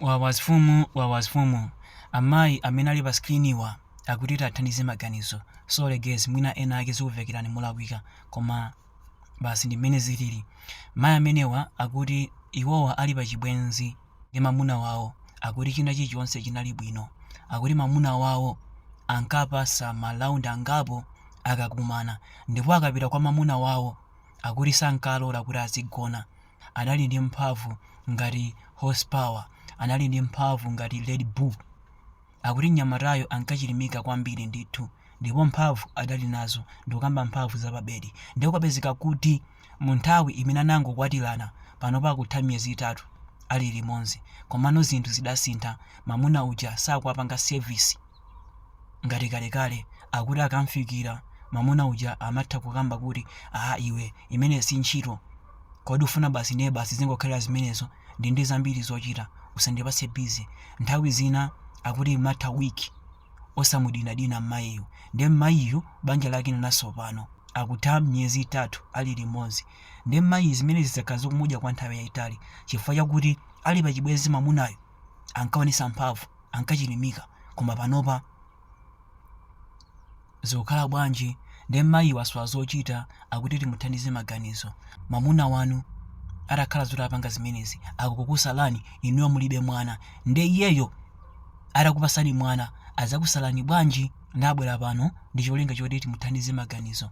Wawasfumu wawasfumu amayi amene ali pa screen wa akuti tiwathandize maganizo sorry guys mwina ena ake zikuvekerani molakwika koma basi ndi mmene zilili mayi amenewa akuti iwowa ali pa chibwenzi ndi mamuna wawo akuti china chilichonse chinali bwino akuti mamuna wawo ankapasa ma round angapo akakumana ndipo akapita kwa mamuna wawo akuti sankalola kuti azigona anali ndi mphamvu ngati horsepower, anali ndi mphamvu ngati Red Bull. Akuti mnyamatayo ankachilimika kwambiri ndithu ndipo mphamvu adali nazo, ndikukamba mphamvu zapabedi. Nde kwapezeka kuti mu nthawi imene anangokwatirana, panopa akutha miyezi itatu ali limodzi, komano zinthu zidasintha, mamuna uja sakuwapanga service. ngati kalekale akuti akamfikira mamuna uja amatha kukamba kuti aa iwe imene si ntchito kodi ufuna basi ndiye basi zingokhalira zimenezo ndi ndi zambiri zochita usandipatse bizi nthawi zina akuti imatha wiki osamudinadina mmayiyu nde mmayiyu banja lake linatsopano akutha miyezi itatu ali limodzi nde mmayi zimenezi zakhala zikumudya kwa nthawi yayitali chifukwa chakuti ali pachibwenzi mamunayo ankaonesa mphamvu ankachilimika koma panopa zikukhala bwanji nde mayi wasowa zochita akuti timuthandize maganizo mwamuna wanu atakhala zoti apanga zimenezi akukukusalani inuyo mulibe mwana nde iyeyo atakupasani mwana adzakusalani bwanji nde abwera pano ndi cholinga choti timuthandize maganizo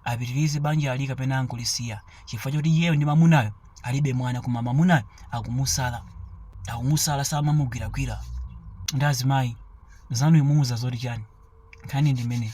apitirize banjali kapena angolisiya chifukwa choti iyeyo ndi mamunayo alibe mwana koma mamunayo akumusala akumusala samamugwiragwira nde azimayi anzanu mumuuza zoti chani nkhani ndi imeneyi